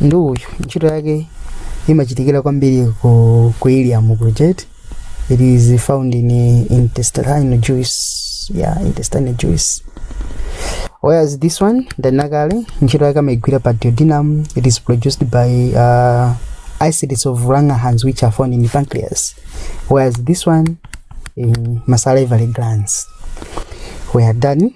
ndi uyu ntchito yake imachitikira kwambiri ku, ku ileum project it is found in uh, intestinal juice yeah intestinal juice whereas this one odakali ntchito yake amaigwira pa duodenum it is produced by uh, islets of langerhans which are found in the pancreas whereas this one in masalivary glands we are done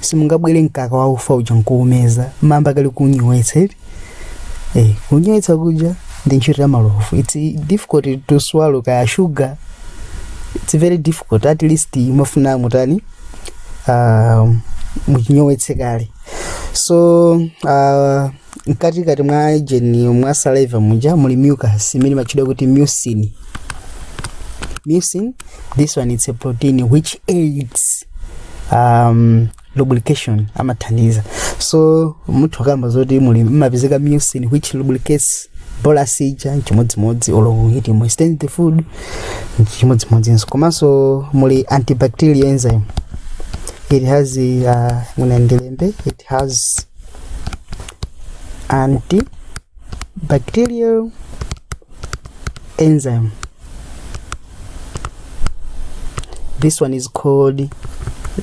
simungabwere mkaka wa ufa uja nkuumeza mamba kali kunyowetsa eti eh kunyowetsa kuja ndi ntchito ya malovu it's difficult to swallow kaya sugar it's very difficult at least mafuna mutani uh, muchinyowetse kale so uh, mkati kati mwa gene mwa saliva muja muli mucus imene imatchidwa kuti mucin mucin this one it's a protein which aids um, lubrication amathandiza so munthu akamba zoti muli mmapezeka mucin which lubricates bolus ija chimodzimodzi olo it moistens the food chimodzimodzinso komanso muli antibacterial enzyme it has uh, munandilembe it has antibacterial enzyme this one is called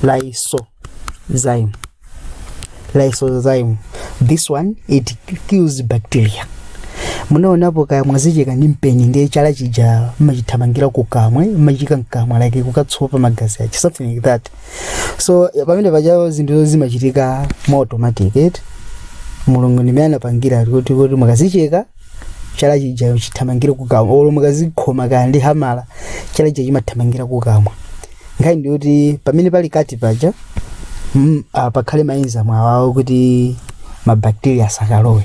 lysozyme lysozyme this one it kills bacteria munaonapo kaya mwazicheka ndi mpeni ndiye chala chija mmachithamangira kukamwa mmachiika mkamwa like kukatsopa magazi ake something like that so ya- pamene paja zinthu zimachitika mwa automatic eti mulungu ndimene anapangira kuti kuti mukazicheka chala chija chithamangire kukamwa olo mukazikhoma kaya ndi hamala chala chija chimathamangira kukamwa nkhani ndi kuti pamene pali cut paja mm, ah, pakhale maenzyme awawo kuti mabacteria asakalowe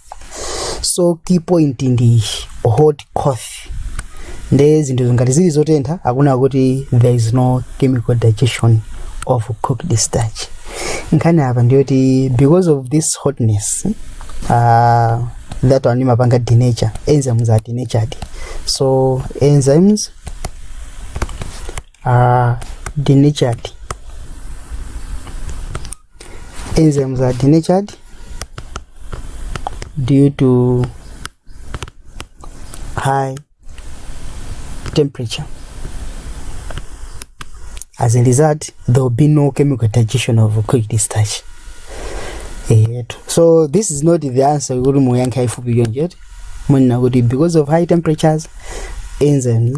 so key point ndi hot coffee nde zinthu ngati zili zotentha akunena kuti there is no chemical digestion of cooked starch nkhani apa ndiyoti because of this hotness uh, that one imapanga denature enzymes are denatured so enzymes a denatured enzymes are denatured due to high temperature as a result there will be no chemical digestion of cooked starch eyetu so this is not the answer kuti muyankha ifupi yonjeti munena kuti because of high temperatures enzymes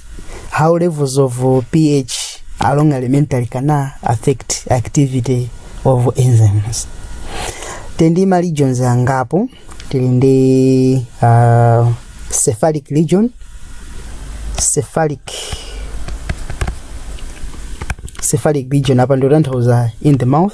how levels of uh, pH along elementary can uh, affect activity of enzymes. Tendi ma regions angapo tili ndi uh, cephalic region cephalic cephalic region apa ndio tanthauza in the mouth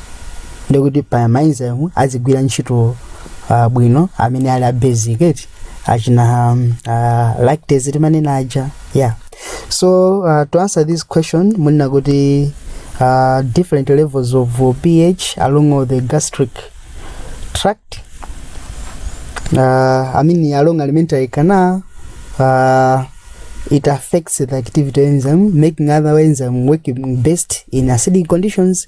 ndikuti pa maenzyme azigwira ntchito uh, bwino amene ali a basic eti achina um, uh, lactase timanena aja yeah so uh, to answer this question munena kuti uh, different levels of ph along the gastric tract uh, i mean along alimentary canal uh, it affects the activity of enzyme, making other enzymes working best in acidic conditions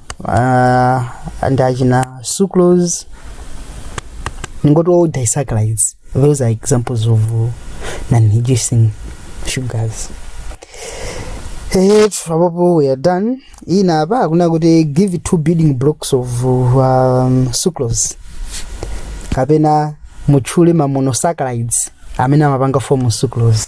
uh, ndi achina sucrose ningoti all disaccharides those are examples of non-reducing sugars If apopo we are done ina apa akuna kuti give two building blocks of um, sucrose kapena mutchule ma monosaccharides amene amapanga form sucrose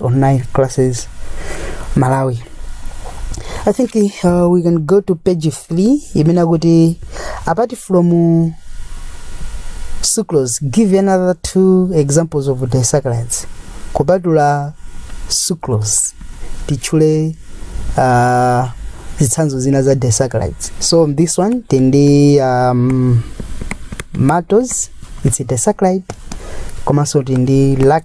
online classes malawi i think uh, we can go to page 3 imene akuti apart from uh, sucrose give another two examples of disaccharides kupatula sucrose tichule uh, zitsanzo zina za disaccharides so on this one tindi um, maltose it's a disaccharide komanso tindi lac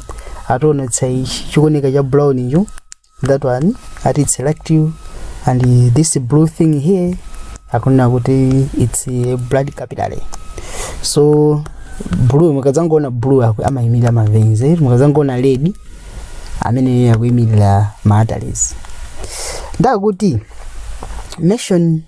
ationetsa chikuoneka cha brown icho that one ati its lacteal and this blue thing here akunena kuti its a blood capillary so blue mukadzangoona blue akhale amayimirira maveins eh? mukadzangoona red amene akuyimirira ma arteries ndiyekuti nation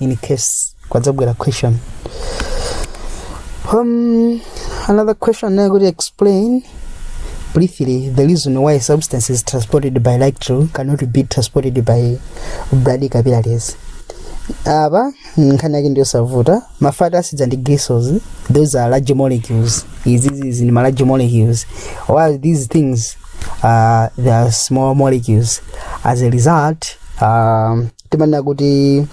in case kwadzabwera question um, another question now could explain briefly the reason why substances transported by electro cannot be transported by blood capillaries apa nkhani yake ndiyosavuta mafati asidza ndi glycels those are large molecules izizi ndi ma large molecules while these things uh, they are small molecules as a result um, timanena kuti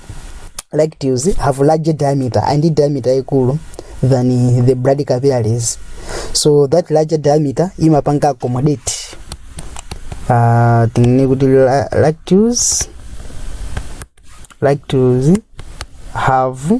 lacteals have larger diameter and diameter ikulu than the blood capillaries so that larger diameter imapanga accommodate uh, tinene kuti la- lacteals lacteals have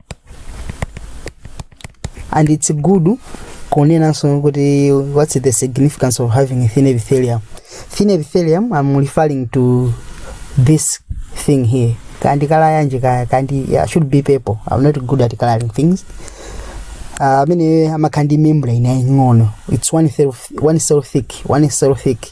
and it's good kunenanso kuti what's the significance of having thin epithelium thin epithelium i'm referring to this thing here kandi kala yanji kaya kandi yeah, should be purple i'm not good at coloring things amene uh, amakhala ndi membrane yaying'ono its one cell, one cell thick one cell thick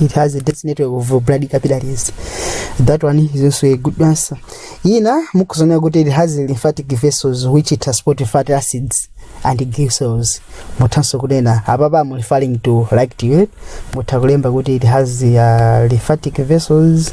it has a dense network of blood capillaries that one is also a good answer ina mukuzonera kuti it has lymphatic vessels which transport fatty acids and glycerols muthanso kunena apapa am referring to like to it mutha kulemba kuti it has uh, lymphatic vessels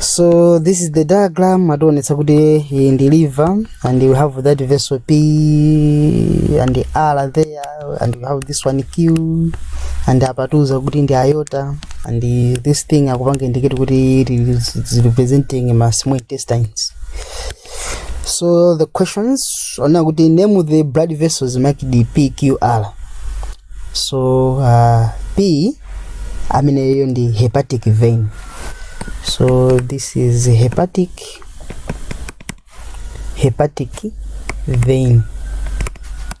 so this is the diagram ationetsa kuti iyi ndi liver and we have that vessel p and the r there and we have this one q and apa atiuza kuti ndi aorta and this thing akupanga indicate kuti it is representing ma small intestines so the questions ona kuti name the blood vessels make the pqr so uh, p amene iyo ndi hepatic vein so this is hepatic hepatic vein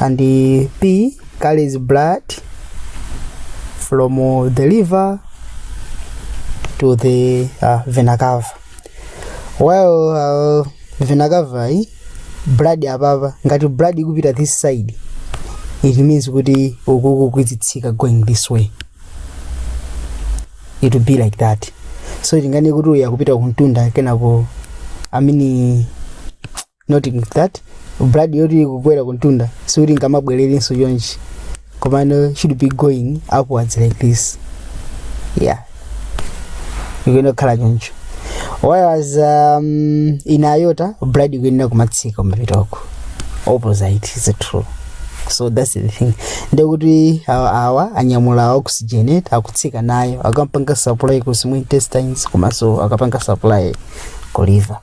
and pee carries blood from the liver to the uh, vena cava while uh, vena cava yi blood apapa ngati blood ikupita this side it means kuti ukuku kwizitsika going this way it will be like that so tingane kuti uya kupita kuntunda kenako amini not that blood yoti ikukwera kumtunda sikuti imabwereranso chonchi komano should be going upwards like this yeah ikuyenera kukhala choncho whereas um, in aorta blood ikuyenera kumatsika mapitoko opposite is true so that's the thing ndekuti awa awa anyamula oxygen akutsika nayo akapanga supply ku small intestines komanso akapanga supply ku liver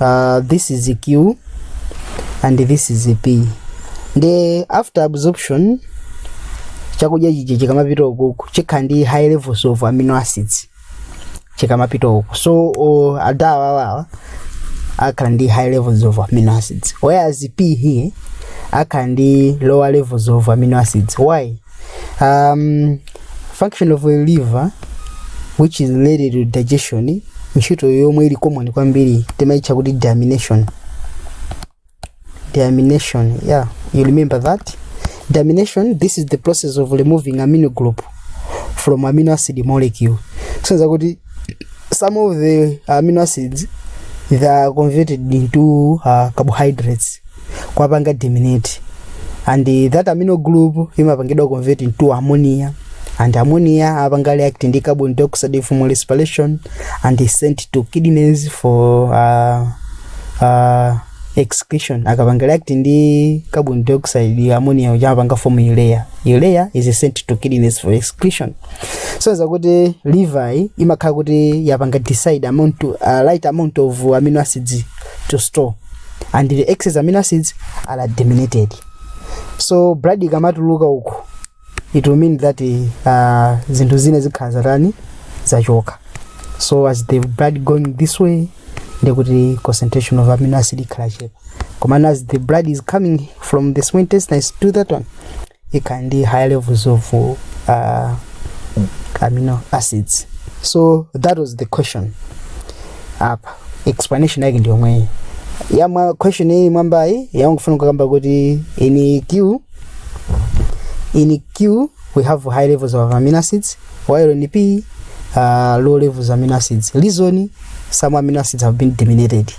uh, this is q and this is p nde after absorption chakudya chija chikamapita ukuku chikhala ndi high levels of amino acids chikamapita uku so uh, adawa awawa akhala ndi high levels of amino acids whereas p here akhala ndi lower levels of amino acids why um, function of a liver which is related to digestion ntchito yomwe ili common kwambiri timaitcha kuti diamination diamination yeah you remember that diamination this is the process of removing amino group from amino acid molecule sonza kuti some of the amino acids they are converted into uh, carbohydrates kwapanga germinate and that amino group imapangidwa convert into ammonia and ammonia apanga react ndi carbon dioxide from respiration and is sent to kidneys for uh, uh, excretion akapanga react ndi carbon dioxide ammonia uja apanga form urea urea is sent to kidneys for excretion so zakuti liver imakhala kuti yapanga decide amount to, uh, right amount of amino acids to store and the excess amino acids are deaminated so blood ikamatuluka uku it will mean that uh, zinthu zina zikhala zatani zachoka so as the blood going this way ndekuti concentration of amino acid ikhala yochepa komano as the blood is coming from the small intestines to that one ikhala ndi high levels of uh, amino acids so that was the question apa explanation yake ndi yomweyi yamwa question iyi mwambayi yangofuna kukamba kuti in q in q we have high levels of amino acids while in p uh, low levels of amino acids reason some amino acids have been diminished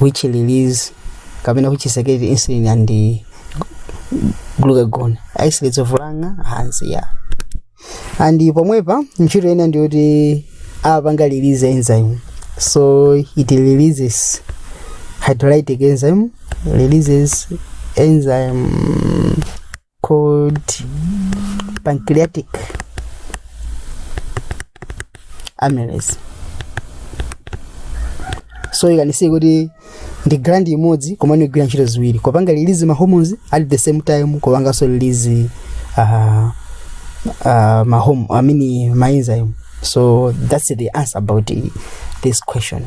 which release kapena which secrete insulin and eh, glucagon isolates of lung hands yeah and pomwepa ntchito ina ndiyoti apanga release enzyme so it releases hydrolytic enzyme releases enzyme called pancreatic amylase so you can see kuti ndi gland imodzi komano igwira ntchito ziwiri kupanga release ma hormones at the same time kupanganso release uh, uh, ma home, I mean, ma enzyme so that's the answer about uh, this question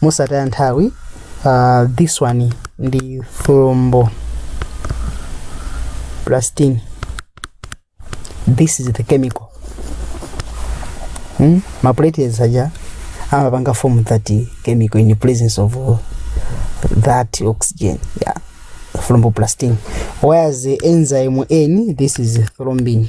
mosataya nthawi uh, this one ndi thrombo plastin this is the chemical hmm? maplatelets aja amapanga form that chemical in the presence of uh, that oxygen yeah thromboplastin whereas the enzyme n this is thrombin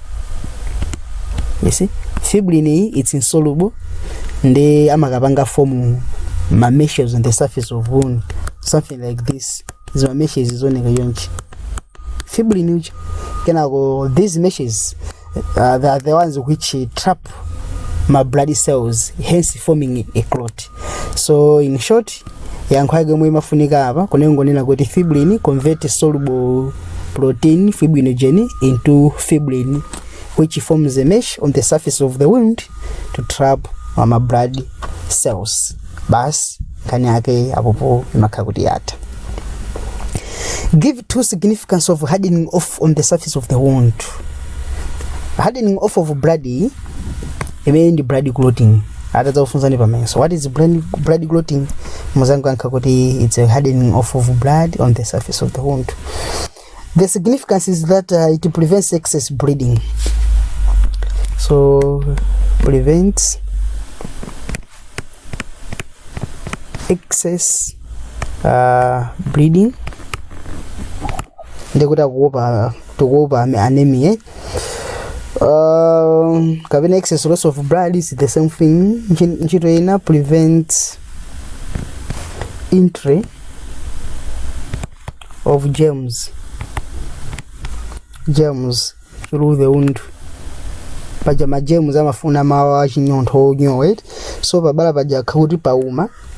you see fibrin iyi it's insoluble ndi amakapanga form ma meshes on the surface of wound something like this izi ma meshes zoneka yonchi fibrin uchi kenako these meshes uh, they are the ones which trap ma blood cells hence forming a clot so in short yankho yake yomwe imafunika apa kunengonena kuti fibrin convert soluble protein fibrinogen into fibrin which forms a mesh on the surface of the wound to trap mama blood cells basi nkhani yake apopo imakhala kuti yatha give two significance of hardening off on the surface of the wound hardening off of blood imeneyo ndi blood clotting atadzakufunsani pamayeso what is blood, blood clotting mudzangoyankha kuti it's a hardening off of blood on the surface of the wound the significance is that uh, it prevents excess bleeding so prevents excess uh, bleeding ndekuti akuopa tikuopa ame- anemia Um, kapena excess loss of blood is the same thing Nchi- ntchito ina prevent entry of germs germs through the wound paja majems amafuna malo achinyontho onyowa eti so pabala paja pakhale kuti pauma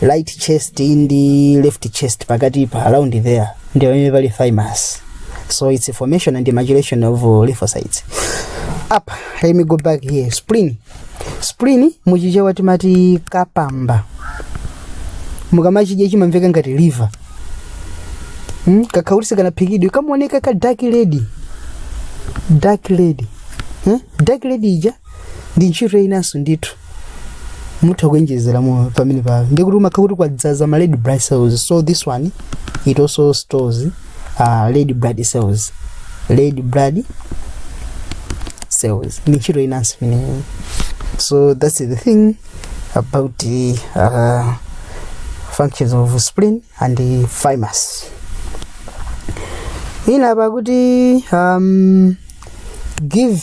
right chest ndi left chest pakati pa around there ndi pamene pali thymus so it's a formation and maturation of uh, lymphocytes up let me go back here spleen spleen muchichewa timati kapamba mukamachidya chimamveka ngati liver hmm? kakakhala sikanaphikidwe kamaoneka ka dark red dark red hmm? dark red ija ndi ntchito inanso ndithu mutha kuonjezera mu pamenepa ndi kuti umakhala kuti kwadzaza ma red blood cells so this one it also stores uh, red blood cells red blood cells ndi ntchito inanso imeneyo so that's the thing about the uh, functions of spleen and the thymus ina pakuti um, give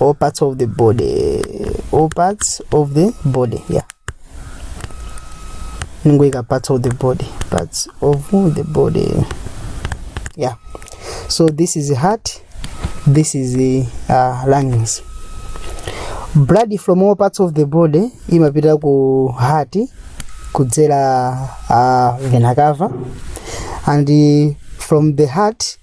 all parts of the body all parts of the body yeah ningoika parts of the body parts of the body yeah so this is the heart this is the uh, lungs blood from all parts of the body imapita ku heart kudzera uh, vena cava and uh, from the heart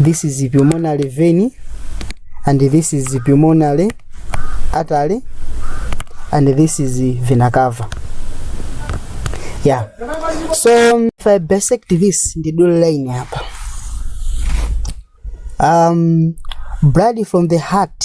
this is pulmonary vein and this is pulmonary artery and this is vena cava yeah so if i bisect this ndi dule line apa um blood from the heart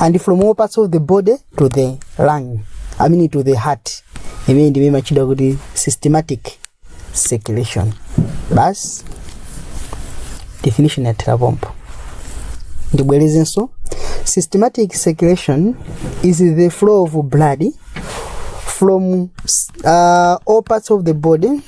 and from all parts of the body to the lung i mean to the heart imene ndimene imatchedwa kuti systematic circulation basi definition yathera pompo ndibwerezenso systematic circulation is the flow of blood from uh, all parts of the body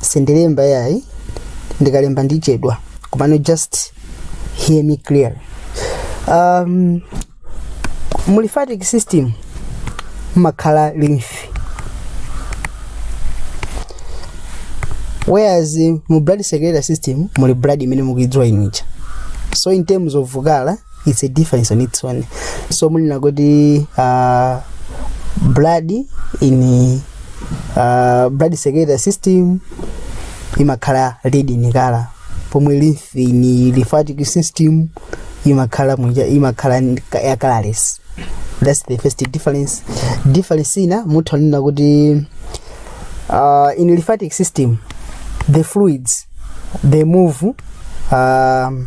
sindilemba yayi ndikalemba ndichedwa komano just hear me clearly um, mu lymphatic system mumakhala lymph whereas mu blood circulatory system muli blood imene mukuidziwa inu ija so in terms of color it's a difference on its own so mumanena kuti uh, blood in uh, blood circulatory system imakhala red in color pomwe lymph in lymphatic system imakhala muja imakhala nika- ya colorless that's the first difference difference ina mutha kunena kuti uh, in lymphatic system the fluids they move um,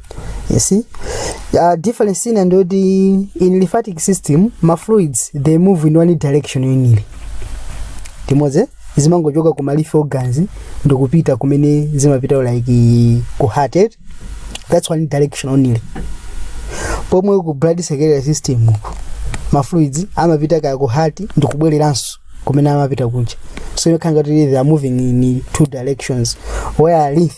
you see uh, difference ina ndiyoti in lymphatic system ma fluids they move in one direction only timadzi zimangochoka ku ma lymph organs ndikupita kumene zimapita like ku heart eh? that's one direction only pomwe ku blood circulatory system uko ma fluids amapita kaya ku heart ndikubwereranso kumene amapita kunja so you can get they are moving in two directions whereas lymph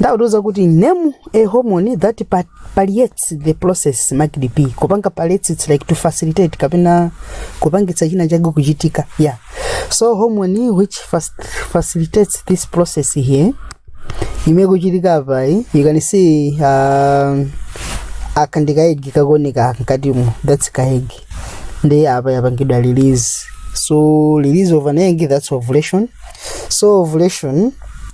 ndi akutiuza kuti name a hormone that pa- palliates the process marked P kupanga palliates it's like to facilitate kapena kupangitsa china chake kuchitika yeah so hormone which fast, facilitates this process here imene kuchitika apa eh, you can see uh, aka ndi kaegi kakuoneka aka mkatimo that's kaegi ndiye apa yapangidwa release so release of an egg that's ovulation so ovulation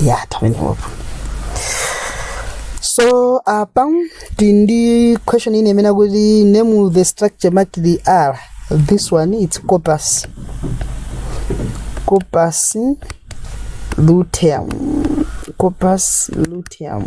ya tamenewopo so apa tili ndi question ina imene akuti name the structure marked R this one it's corpus corpus luteum corpus luteum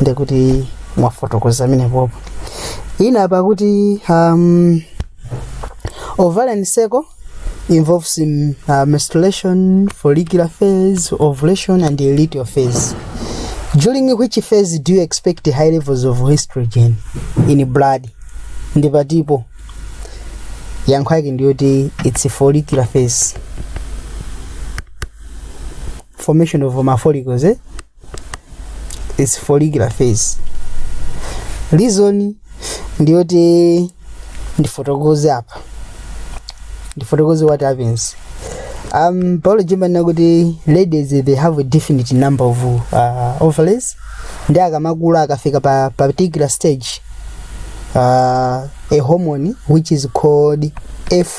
ndekuti mwafotokoza pamenepopo ina apa akuti um, ovarian cycle involves in, uh, menstruation follicular phase ovulation and luteal phase during which phase do you expect high levels of estrogen in blood ndiye pa tipo yankho yake ndiyoti it's follicular phase formation of ma follicles eh? it's follicular phase reason ndiyoti ndifotokoze apa ndifotokoze what happens um biology imanena kuti ladies they have a definite number of uh, ovaries ndiye akamakula akafika pa particular stage uh, a hormone which is called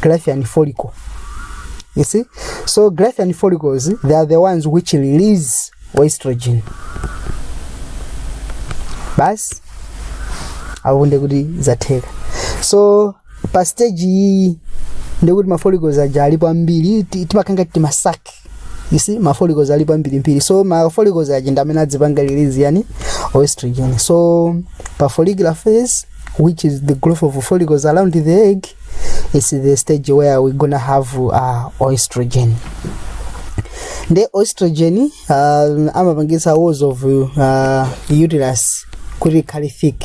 Graafian follicle. You see? So Graafian follicles, they are the ones which release estrogen. Basi apo ndekuti zatheka. So pa stage iyi ndekuti ma follicles aja alipo ambiri ti- timakhala kuti timasaki you see ma follicles alipo ambirimbiri so ma follicles aja ndi amene adzipanga release yani oestrogen so pa follicular phase which is the growth of follicles around the egg it's the stage where we gonna have uh, oestrogen nde oestrogen uh, amapangisa walls of uh, uterus kuti ikhale thick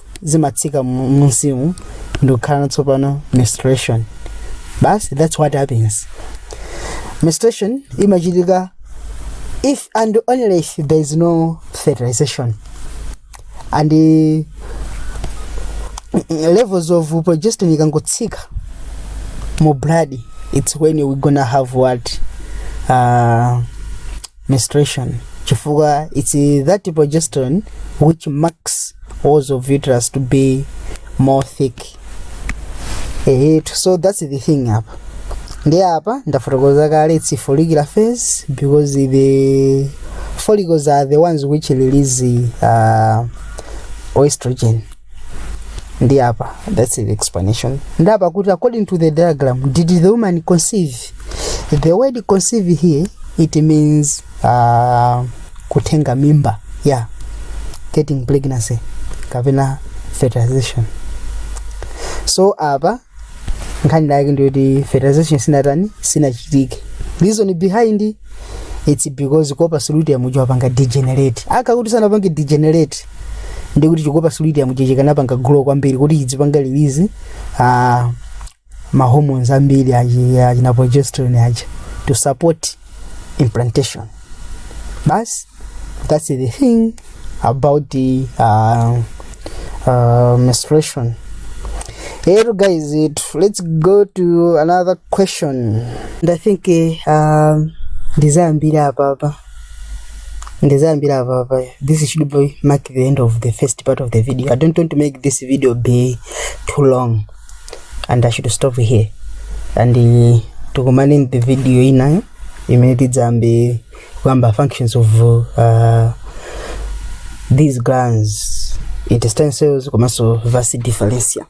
zimatsika mu- munsimu ndikukhala tsopano menstruation basi that's what happens menstruation imachitika if and only if there is no fertilization and uh, levels of progesterone ikangotsika mu blood it's when we gonna have what uh, menstruation chifukwa it's uh, that progesterone which makes walls of uterus to be more thick eh, so that's the thing apa ndi apa ndafotokoza kale it's follicular phase because the follicles are the ones which release uh, oestrogen ndiye apa that's the explanation ndiye apa akuti according to the diagram did the woman conceive the word conceive here it means uh, kutenga mimba yeah getting pregnancy kapena fertilization so apa nkhani yake ndiyoti fertilization sinatani sinachitike reason behind it's because corpus luteum uja wapanga degenerate chikhala kuti sanapange degenerate ndekuti chi corpus luteum ichi chikanapanga grow kwambiri kuti chidzipanga release uh, ma hormones ambiri achi- achina progesterone aja to support implantation basi that's the thing about the uh, uh, menstruation Hello guys, it, let's go to another question. And I think uh, um, ndizayambira apa apa ndizayambira apa pa this should be mark the end of the first part of the video i don't want to make this video be too long and i should stop here and uh, tikumane in the video inayo imene tidzayambe kuyamba functions of uh, these glands intestine cells komanso vasi differencia